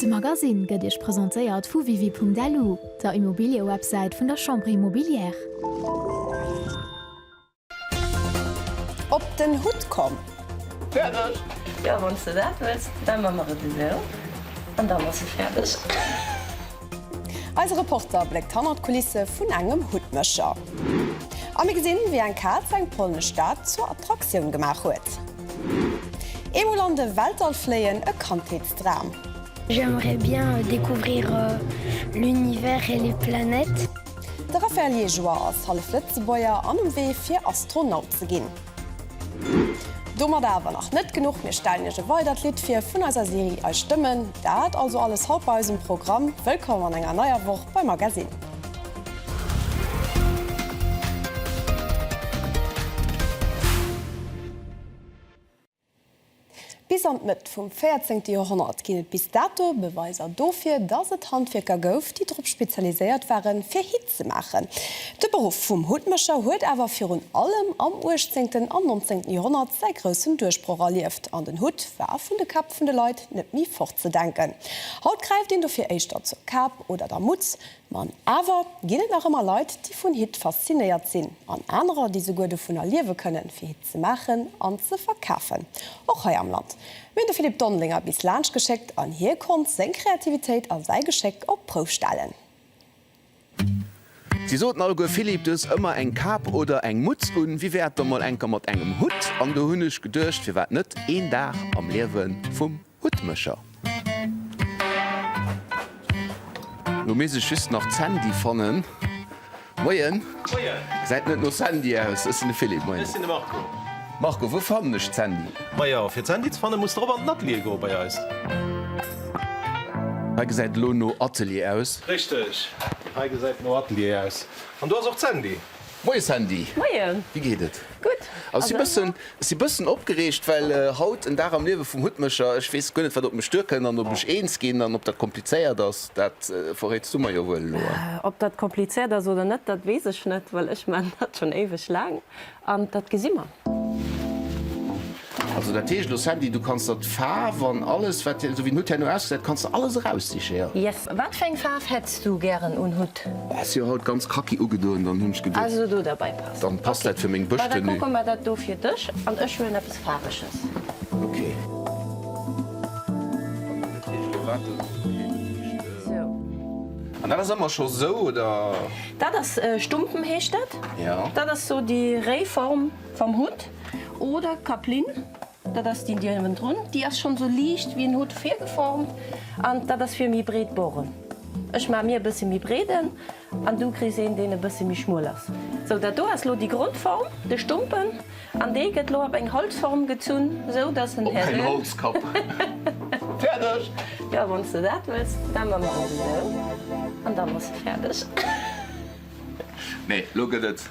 De Magasinn gëtt Iech presentéiert vu Wiwi.lu, der Immobiliëwebsäit vun der Chambre Immobilière. Op den Hutt komm! Fäerdeg? Jo, wann s de dat wëlls, da man mer et esou, an da man se fäerdeg. Eise Reporter bléckt hannert d'Kulisse vun engem Huttmécher. A mir gesinn, wéi eng Kaz eng polnesch Stad zur Attraktioun gemaach huet. Eemol an de Weltall fléien, e Kandheetsdram. J'aimerais bien découvrir l'univers et les planètes. De Raphaël Liégeois ass hallef Lëtzebuerger an um Wee fir Astronaut ze ginn. Domadder awer nach net genuch, mir stellen Iech e weidert Lidd vir vun eiser Serie Eis Stëmmen. Dat also alles haut bei eis um Programm. Wëllkomm an enger neier Woch bei Magazine. Bis an d'Mëtt vum véierzéngte Joerhonnert ginn et bis dato Beweiser dofir, datt et Handwierker gouf, déi drop spezialiséiert waren, fir Hitt ze maachen. De Beruff vum Huttmécher huet awer virun allem am uechtzéngten an nonzéngten Joerhonnert säi groussen Duerchbroch erlieft an den Hutt war vun de Käpp vun de Leit net méi fortzedenken. Haut gräift een dofir éischter zur Kap oder der Mutz. Ma awer ginn et nach ëmmer Leit, déi vun Hitt faszinéiert sinn an anerer, déi souguer dovunner liewe kënnen, fir ze maachen an ze verkafen, och hei am Land. Mir hunn de Philippe Dondelinger bis laanscht geschéckt an hie konnt seng Kreativitéit a säi Geschéck op d'Prouf stellen. Si soten alleguer, Philippe, du hues ëmmer eng Kap oder eng Mutz un, wéi wär et da mol enker mat engem Hutt? An do hunn ech geduecht, firwat net een Dag am Liewe vum. Huttmëscher. Lo misst ech just nach d'Sandy fannen. Moien. Moien. Gesäit net no Sandy aus. Ech sinn de Philippe. Moien. Ech sinn de Marco. Marco, wou fannen ech d'Sandy? Majo, fir d'Sandy ze fannen, muss de erop an den Atelier goen bei eis. Hei gesäit elo no Atelier aus. Richteg. Hei gesäit no Atelier aus. An do ass och d'Sandy. Moie Sandy! Moie! Wéi geet et? Gutt! Ech si bëssen, ech si bëssen opgereegt, well haut en Dag am Liewe vum Huttmécher. Ech weess guer net, wat op mech duerkënnt an ob ech eens ginn an ob dat komplizéiert ass. Dat verréits du mer jo wuel elo. Ob dat komplizéiert ass oder net, dat weess ech net, well ech maan dat schonn éiweg laang an dat gesi mer. Also dat heescht elo Sandy, du kanns der d'Faarf an alles wat dir, esou wéi den Hutt herno ausgesäit, kanns der alles eraussichen, jo? Yes. Wat fir eng Faarf hätts du gären un Hutt? Hues jo haut ganz kaki ugedoen, dann hunn ech geduecht. Also do derbei passt. Dann passt dat fir meng Bësch-Tenue. Okay, da kucke mer dat do fir dech an ech huelen eppes Faarweges. Okay. An dat ass ëmmer scho sou, oder? Dat ass Stumpen heescht dat. Jo. Dat ass sou déi réi Form vam Hutt. oder Kaplinn, dat ass déi déi ëwen drun, déi ass schonn esou liicht ewéi en Hutt virgeformt an dat ass fir méi breet Boren. Ech maache mir e bësse méi breeden an du kriss een deen e bësse méi schmuel ass. Sou dat do ass elo déi Grondform, de Stumpen, an dee gëtt elo op eng Holzform gezunn, sou datt en Häre. Op en Holzkapp. Fäerdeg! Jo wann s de dat wëlls, da man mer dat esou an dann ass se fäerdeg. Nee, elo gëtt et.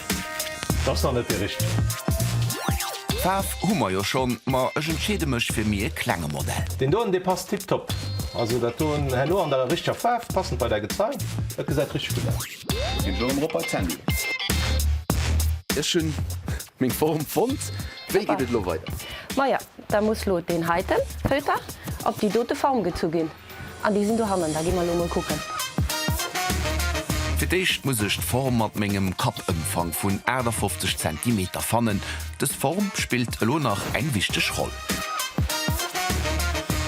D'ass nach net déi richteg. Faarw hu mer jo schon, ma ech entscheede mech fir mi e klenge Modell. Deen doen dee passt tiptop. Also dat doen herno an der richteger Faarw, passend bei däi Gezei. Dat gesäit richteg gutt aus. Et geet elo erëm erop bei d'Sandy. Ech hunn meng Form fonnt. Wéi geet et elo weider? Maja, da muss lo deen heiten Fëlter op déi dote Form gezu ginn. An déi sinn dohannen, da gi mer elo emol kucken. Fir d'éischt muss ech d'Form mat mengem Kappëmfang vun 58 Zentimeter fannen. Dës Form spillt elo nach eng wichteg Roll.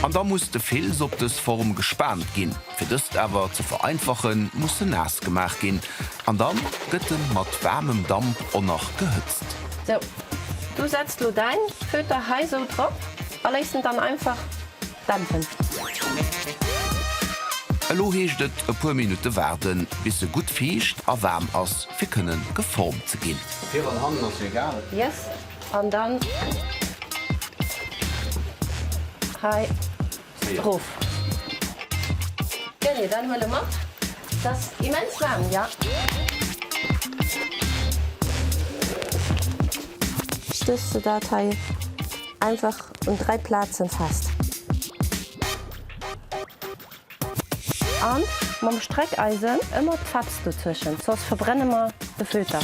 An da muss de Fils op dës Form gespaant ginn. Fir dëst awer ze vereinfachen, muss en naass gemaach ginn an dann gëtt en mat waarmem Damp o nach gehëtzt. Sou, du setz elo däin Föter hei sou drop a léiss en dann einfach Elo heescht et e puer Minutte waarden, bis se gutt fiicht a waarm ass, fir kënnen geformt ze ginn. Vir an hannen ass egal. Yes an dann hei droof. Genee, dann huele mat. T'ass immens waarm, jo. Stéchs de dat hei? Einfach un 3 Plazen fest. An mam Streckeisen ëmmer d'Feps dozwëschen, soss verbrenne mer de Filter.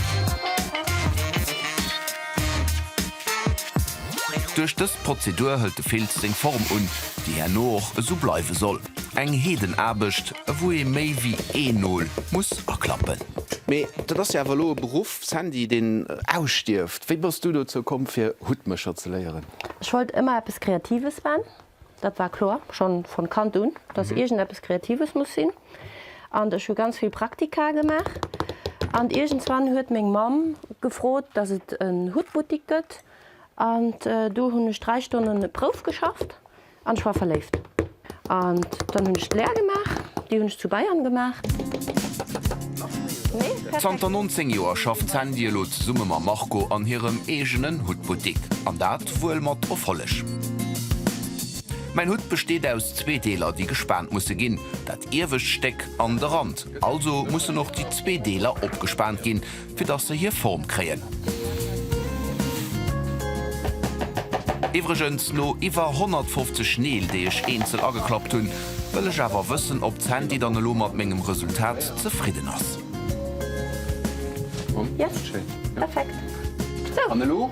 Duerch dës Prozedur hëlt de Filz seng Form un, déi herno och esou bleiwe soll. Eng Heedenaarbecht, wou ee méi wéi een Nol muss aklappen. Mee dat ass jo awer elo e Beruff, Sandy, deen ausstierft. Wéi bass du dozou komm fir Huttmécher ze léieren? Ech wollt ëmmer eppes Kreatives man, dat war kloer schonn von Kand un, dass iergend eppes Kreatives muss sinn. An ech hu ganz vill Praktika gemaach an iergendswann huet meng Mamm gefrot, dass et en Huttbuttik gëtt an do hunn ech 3 Stonnen Prouf geschafft. An ech war verléift. An dann hunn ech d'Lär gemaach. Déi hunn ech zu Bayern gemaach. Zanter 19 Joer schafft d'Sandy elo zesumme mam Marco an hirem eegenen Huttbuttik. An dat wuel mat Erfolleg. Mäin Hutt besteet aus zwee Deeler, déi gespaant musse ginn, dat iewescht Stéck an de Rand. Also mussen och déi zwee Deeler opgespaant ginn, Fir dass se hir Form kréien. Iwwregens, no iwwer 150 Neel, déi ech eenzel ageklappt hunn, wëll ech awer wëssen, ob d'Sandy dann elo mat mengem Resultat zefridden ass. Yes, perfekt. An elo?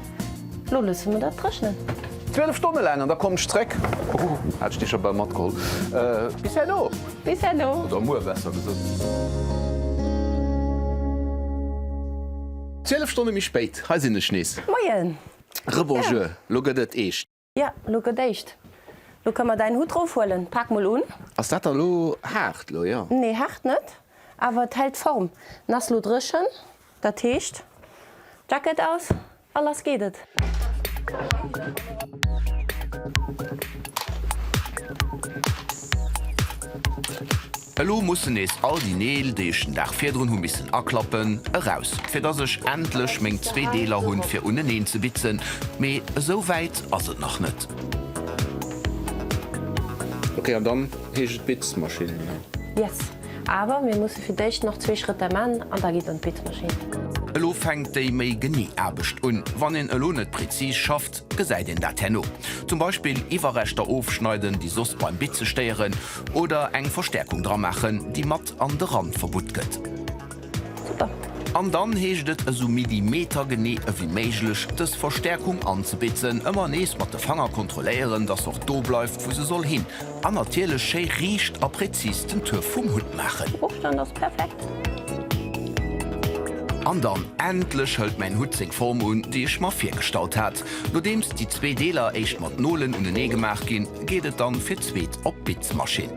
Lo loosse mer dat dréchnen. 12 Stonne laang an da komm ech zréck. Huhu, hat ech déi scho bal matgeholl. Bis herno! Bis herno! Oder muer besser gesot. 12 Stonne méi spéit, hei sinn ech nees. Moien! Rebonjour, lo gëtt et eescht. Ja, lo gëtt éischt. Lo kënne mer däin Hutt rofhuelen. Pak mol un. Ass dat da lo haart? Lo jo. Nee, haart net, awer et hält d'Form. En ass lo dréchen, dat heescht, Jacket aus a lass geet et. Elo mussen nees all déi Neel, déi ech den Dag virdrun hu missen aklappen, eraus, fir dass ech endlech meng zwee Deeler hunn, fir uneneen ze bitzen. Mee esou wäit ass et nach net. Ok, an dann heescht et Bitzmaschinn, oder? Yes, awer mir musse fir d'éischt nach zwee Schrëtter man an da geet et an d'Bitzmaschinn. Elo fänkt déi méi genee Aarbecht un. Wann een elo net prezis schafft, gesäit een dat herno. Zum Beispill Iwwerreschter ofschneiden, déi soss beim Bitze stéieren. Oder eng Verstärkung dra maachen déi mat an de Rand verbutt gëtt. Super! An dann heescht et esou millimetergenee ewéi méiglech dës Verstärkung anzebitzen. Ëmmer nees mat de Fanger kontrolléieren dass se och do bleift wou se soll hin. An natierlech schéi riicht a präzis den Tuerf vum Hutt maachen. Ofstand ass perfekt! An dann endlech hëlt mäin Hutt seng Form un déi ech mer virgestallt hat. Nodeems déi zwee Deeler éischt mat Nolen unenee gemaach ginn, geet et dann fir d'zweet op d'Bitzmaschinn.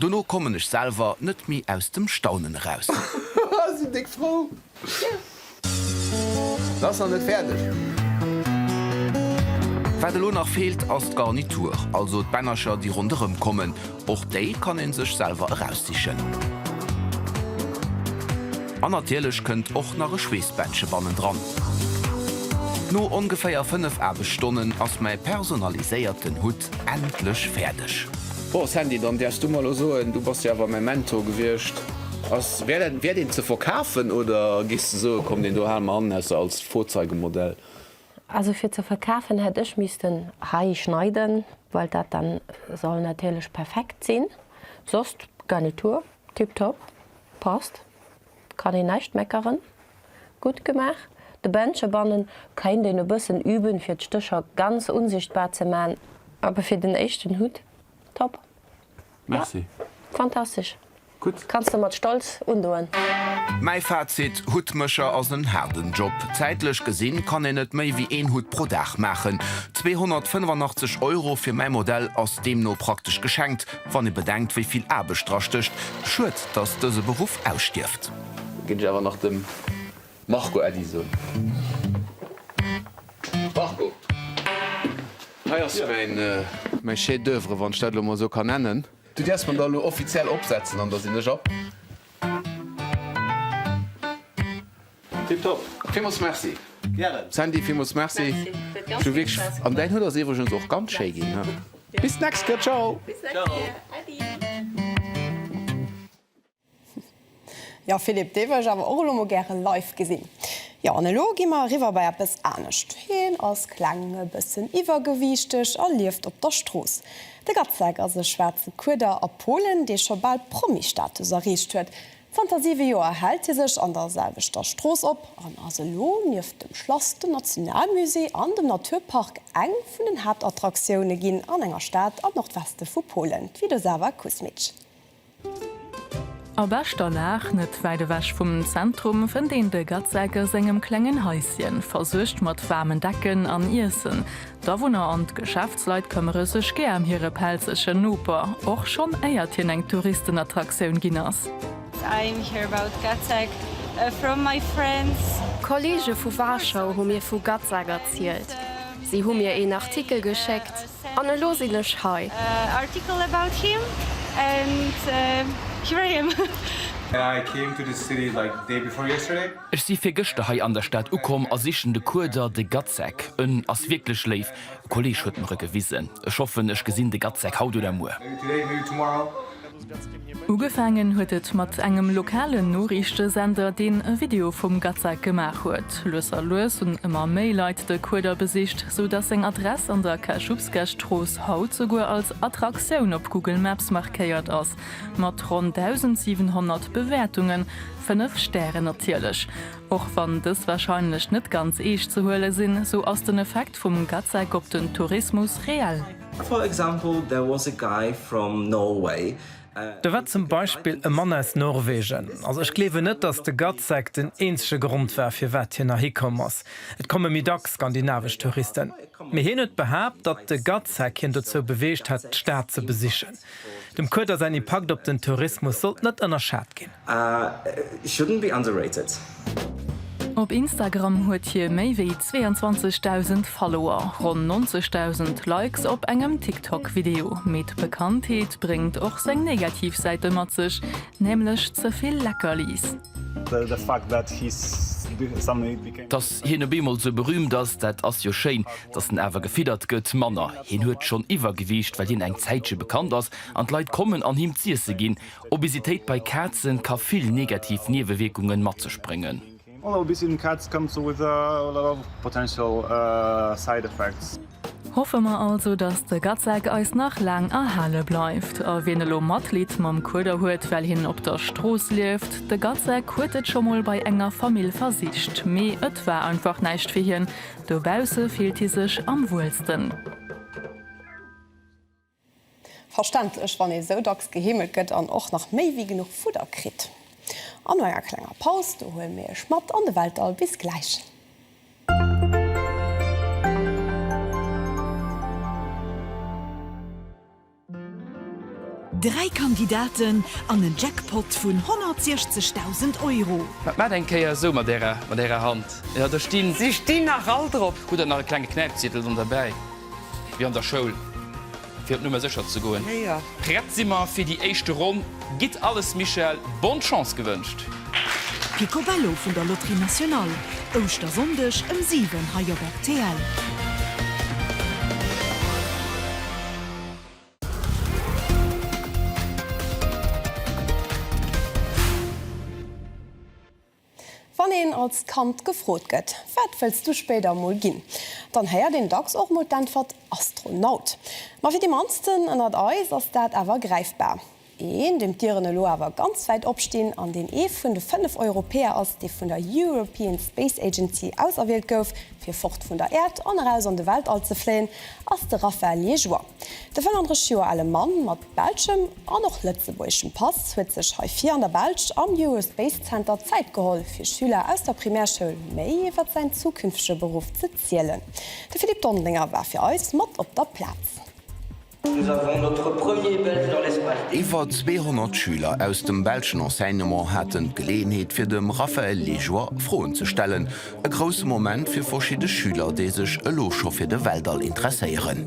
Dono kommen ech selwer net méi aus dem Staunen eraus. Se ass nach net fäerdeg. Wat elo nach feelt ass d'Garnitur, also d'Bännercher déi ronderëm kommen. Och déi kann een sech selwer eraussichen. An natierlech kënnt och nach e Schweessbändche bannendran. No ongeféier 5 Aarbechtsstonnen ass mäi personaliséierten Hutt endlech fäerdeg. Bon Sandy, dann däerfs du mer elo soen, du bass jo awer mäi Mentor gewiescht, ass wäert en wäert een ze verkafen oder gees de soen, komm deen do hale mer hannen aus als Vorzeigemodell? Also fir ze verkafen hätt ech missten hei schneiden, well dat da soll natierlech perfekt sinn, soss Garnitur tiptop, passt. kann een näischt meckeren. Gutt gemaach. De Bench ebannen keint een e bëssen üben fir d'Stécher ganz unsichtbar ze maan. Awer fir den éischten Hut top. Ja, fantastesch. Kanns de mat Stolz undoen. Mäi Fazit, Huttmécher ass en haarden Job. Zäitlech gesinn kann een net méi wéi een Hutt pro Dag maachen. 285 Euro fir mäi Modell ass deemno praktesch geschenkt. Wann ee bedenkt, wéi vill Aarbecht dra stécht. Schued, dass dëse Beruff ausstierft. Géif ech awer nach dem Marco Äddi soen. Marco, hei ass mäin. Mäi Chef d'oeuvre, wann ech dat elo emol esou kann nennen. Du däerfs mer da elo offiziell opsetzen, an da sinn ech ab. Tip top! Villmools Merci! Gären! Sandy, villmools Merci! Ech hu wierklech Spaass gehat! An däin Hutt ass iwwregens och ganz schéi ginn, hä? Bis d'nächst Kéier! Ciao! Bis d'nächst Kéier! Äddi! Jo Philippe, dee wëll ech awer och elo mol gäre live gesinn. Jo, an elo gi mer eriwwer bei eppes anescht. Hien ass kleng, e bëssen iwwergewiichteg a lieft op der Strooss. De Gacek ass e schwaarze Kueder a Polen, dee scho bal Promi-Status erreecht huet. Zanter siwe Joer hält hie sech an der selwechter Strooss op an ass elo nieft dem Schlass, dem Nationalmusée an dem Naturpark eng vun den Haaptattraktiounen ginn an enger Stad am Nordweste vu Polen, d'Widosawa Kusmice. A beschter Lag, net wäit ewech vum Zentrum, fënnt een de Gacek a sengem klengen Haisschen, versuergt mat waarmen Decken an Iessen. D'Awunner an d'Geschäftsleit këmmere sech gär ëm hire pelzegen Noper, och schonn éiert hien eng Touristenattraktioun ginn ass. I'm here about Gacek from my friends. Kollege vu Warschau hu mir vu Gacek erzielt. Si hu mir een Artikel geschéckt an elo sinn ech hei. Article about him and here I am. I came to this city like day before yesterday. Ech si virgëschter hei an der Stad ukomm a sichen de Kueder, de Gatzek. En ass wierklech léif, e Kolleeg huet mer e gewisen. Ech hoffen, ech gesinn de Gatzek haut oder muer. Ugefaangen huet et mat engem lokalen Noriichtesender, deen e Video vum Gatzek gemaach huet. Lues a lues hunn ëmmer méi Leit de Kueder besicht, sou datt seng Adress an der Kaschubskesstrooss haut souguer als Attraktioun op Google Maps markéiert ass, mat ronn 1.700 Bewäertungen. Fënnef Stären natierlech. Och wann dës warscheinlech net ganz eescht ze huele sinn, sou ass den Effekt vum GATSEC op den Tourismus reell. For example, there was a guy from Norway. Do war zum Beispill e Mann aus Norwegen. Also ech gleewen net, datt de GATSEC den eenzege Grond war, firwat hien erhi komm ass. Et komme méi dacks skandinavesch Touristen. Mee hien huet behaapt, datt de GATSEC hien dozou beweegt hätt, d'Stad ze besichen. Dem Kueder säin Impakt op den Tourismus sollt net ënnerschat ginn. A shouldn't be underrated. Op Instagram huet hie méi wéi 22.000 Follower, ronn 90.000 Likes op engem TikTok-Video. Mee d'Bekanntheet bréngt och seng negativ Säite mat sech, nämlech ze vill Leckerlis. Datt hien op eemol esou berüümt ass, dat ass jo schéin, Datt en awer gefiddert gëtt, manner. Hien huet schonn Iwwergewiicht, well hien eng Zäitche bekannt ass an d'Leit kommen an him z'iesse ginn. Obesitéit bei Kazen ka vill negativ Niewewierkungen mat sech bréngen. All obese cat comes with a lot of potential side effects. Hoffe mer also, datt de Gatzack eis nach laang erhale bleift. A wien elo Matleed mam Kueder huet, well hien op der Strooss lieft, de Gatzack huet et scho mol bei enger Famill versicht, mee et war einfach näischt fir hien, Dobausse fillt hie sech am wuelsten. Verständlech, wann ee sou dacks geheemelt gëtt an och nach méi wéi genuch Fudder kritt. An no enger klenger Paus, do huele mir iech mat an de Weltall. Bis gläich. Dräi Kandidaten an en Jackpot vun 160.000 Euro. Wat maacht eng Kéier esou mat Ärer, mat Ärer Hand? Jo, do stinn. Si stinn nach all drop. Hutt Der nach e klenge Knäipziedel dann derbäi, wéi an der Schoul, fir op Nummer sécher ze goen? Hei, jo. Prett si mer fir déi éischte Ronn. Gitt alles, Michèle. Bonne Chance gewënscht! Picobello vun der Loterie Nationale, Ouschtersonndeg ëm 7 hei op rtl. Wann een als Kand gefrot gëtt, Wat wëlls du spéider emol ginn? dann héiert een dacks och emol d'Äntwert Astronaut. Ma fir déi mannsten ënnert eis ass dat awer gräifbar. Een, deem d'Dieren elo awer ganz wäit opstinn an deen ee vun de fënnef Europäer ass, dee vun der European Space Agency auserwielt gouf, fir fort vun der Äerd an eraus an de Weltall ze fléien, ass de Raphaël Liégeois. De 35 Joer ale Mann mat belschem an och lëtzebuergeschem Pass huet sech hei vir an der Belsch am Eurospace Center Zäit geholl, fir Schüler aus der Primärschoul méi iwwer säin zukünftege Beruff ze zielen. De Philippe Dondelinger war fir eis mat op der Plaz. Iwwer 200 Schüler aus dem belschen Enseignement haten d'Geleeënheet fir dem Raphaël Liégeois Froen ze stellen. E grousse Moment fir verschidde Schüler, déi sech elo scho fir de Weltall interesséieren.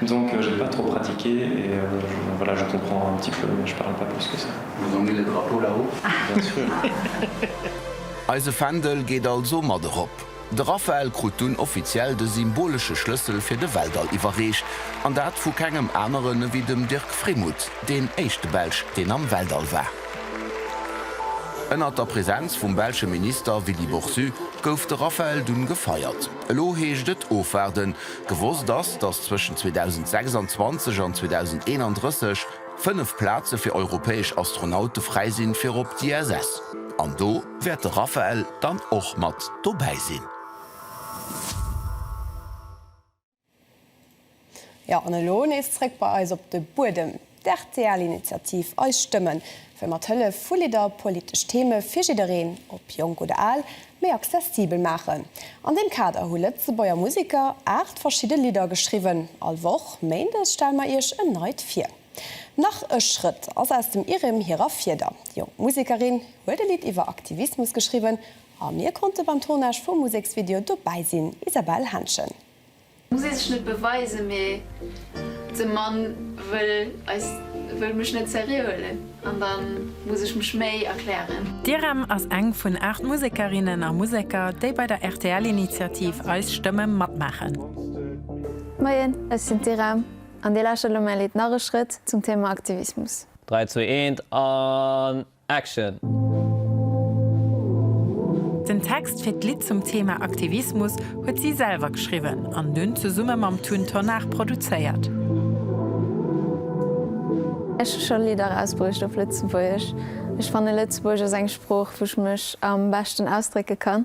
Disons que je n'ai pas trop pratiqué et voilà je comprends un petit peu mais je parle pas plus que ça. Vous ont mis le drapeau là-haut? Bien sûr. Eise Fändel geet also mat erop. De Raphaël krut dunn offiziell de symbolesche Schlëssel fir de Weltall iwwerreecht, an dat vu kengem aneren ewéi dem Dirk Frémouth, deen éischte Belsch, deen am Weltall war. Ënnert der Presenz vum belsche Minister Willy Boursu gouf de Raphaël dunn gefeiert. Elo heescht et ofwaarden. Gewosst ass, datt zwëschen 2026 an 2031 fënnef Plaze fir europäesch Astronaute fräi sinn fir op d'ISS. An do wäert de Raphael dann och mat dobäi sinn. Jo, an elo nees zréck bei eis op de Buedem, d'RTL-Initiativ Eis Stëmmen, wëll mat Hëllef vu Lidder politesch Theme fir jiddereen, ob jonk oder al, méi accessibel maachen. An deem Kader hu Lëtzebuerger Museker 8 verschidde Lidder geschriwwen. All Woch méindes stelle mer iech en neit vir. Nach e Schrëtt ass aus dem IRIM hirer Fieder. Jonk Musekerin huet e Lidd iwwer Aktivismus geschriwwen a mir konnte beim Tournage vum Museksvideo dobäi sinn, Isabelle Henschen. Muss ee sech net beweisen, mee de Mann wëll eis, wëll mech net seriö huelen an da muss ech mech méi erklären. D'Irem ass eng vun 8 Musekerinnen a Museker, déi bei der RTL-Initiativ Eis Stëmme matmaachen. Moien, ech sinn d'Irem an Dir lauschtert elo mäi Lidd Narreschrëtt zum Thema Aktivismus. 3, 2, 1 an. Action! Den Text fir d'Lidd zum Thema Aktivismus huet si selwer geschriwwen an dunn zesumme mam Tun Tonnar produzéiert. Ech hu scho Lidder erausbruecht op Lëtzebuergesch. Ech fanne Lëtzebuergesch ass eng Sprooch, wou ech mech am beschten ausdrécke kann.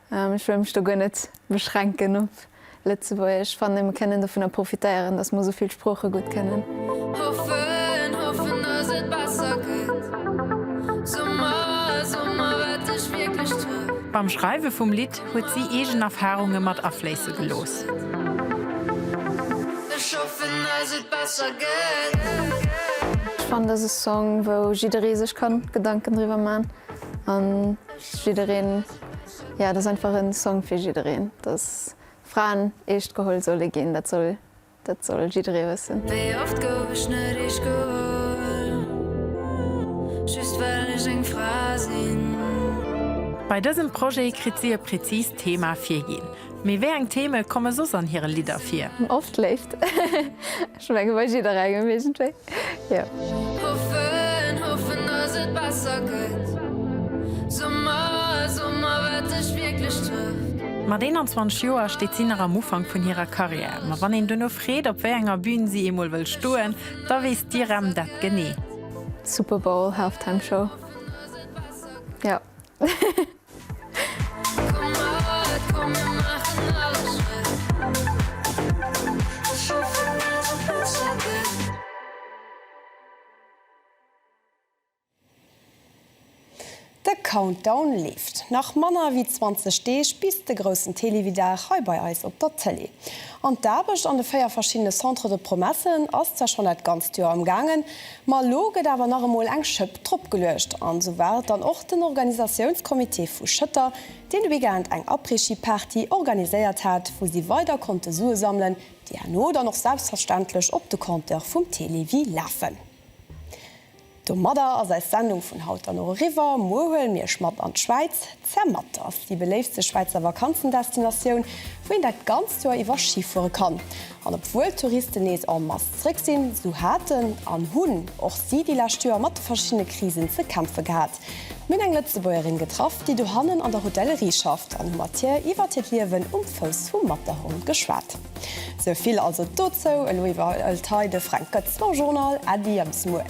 Ech wëll mech do guer net beschränken op Lëtzebuergesch. Ech fannen, mir kënnen dovunner profitéieren, datt mer esou vill Sprooche gutt kënnen. Beim Schreiwe vum Lidd huet si eegen Erfarunge mat afléisse gelooss. Ech fannen, dass e Song, wou jidderee sech kann Gedanken driwwer man. Jiddereen, jo dat ass einfach en Song fir jiddereen, dass Fraen eescht geholl solle ginn, dat soll dat soll jidderee wëssen. Wéi oft gouf ech net eescht geholl, just well ech eng Fra sinn. Bei dësem Projet kritt si e präzist Thema virginn. Mee wéi eng Theme komme soss an hire Lidder vir? Oft Léift. Ech menge bei jidderengem iergendwéi, jo. Hoffen, hoffen dass et besser gëtt. Summer, Summer wat dech wierklech trëfft. Mat 21 Joer steet si nach am Ufank vun hirer Karriär. Ma wann een duerno freet, op wéi enger Bün si eemol wëll stoen, da weess d'IREM dat genee. Superbowl Halftime Show, jo. De Countdown leeft. Nach manner ewéi 20 Deeg bis de groussen Télévie-Dag hei bei eis op der Tëlee. An d'Aarbecht an de 4 verschiddene Centres de Promesses ass zwar schonn dat ganzt Joer am gaangen, Ma elo gëtt awer nach emol eng Schëpp drop geluecht an esou war et dann och den Organisatiounscomité vu Schëtter, deen de Weekend eng Après-Ski-Party organiséiert hat, wou si weider konnte Sue sammelen, déi herno dann och selbstverständlech op de Compteur vum Télévie lafen. Domadder ass eis Sendung vun haut dann och eriwwer. Muer huelen mir iech mat an d'Schwäiz. Zermatt ass déi beléiftste Schwäizer Vakanzendestinatioun, wou een dat ganzt Joer iwwer Schi fuere kann. An obwuel d'Touristen nees en masse zeréck sinn, sou haten an hunn och si déi lescht Joer mat de verschiddene Krisen ze kämpfe gehat. Mir hunn eng Lëtzebuergerin getraff, déi dohannen an der Hotellerie schafft an hu mat hir iwwert hiert Liewen um Fouss vum Matterhorn geschwat. Sou vill also dozou. Elo iwwerhëlt hei de Fränk Goetz d'Morgenjournal. Äddi a bis muer.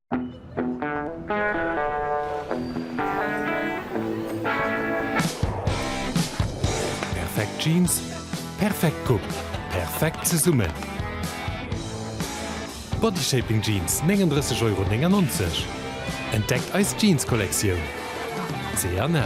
Perfekt Jeans, perfekt Coupe, perfekt zesummen! Bodyshaping Jeans, 39,99 Euro. Entdeckt eis Jeans-Kollektioun! C&A.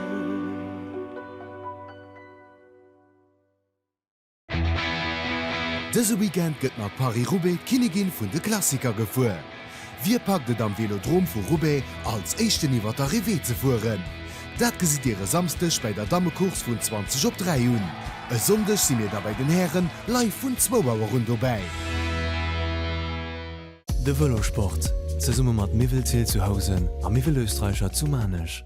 Dëse Weekend gëtt mat Paris-Roubaix d'Kinnigin vun de Klassiker gefuer. Wie packt et am Vélodrome vu Roubaix als éischten iwwer d'Arrivée ze fueren? Dat gesitt Dir e Samsdeg bäi der Dammecourse vun 20 op 3 un. E Sonndeg si mir da bäi den Hären live vun zwou Auer un dobäi. De Vëlosport, zesumme mat Miwwel Ziltzuhausen a Miwwel Österreicher zu Maarnech.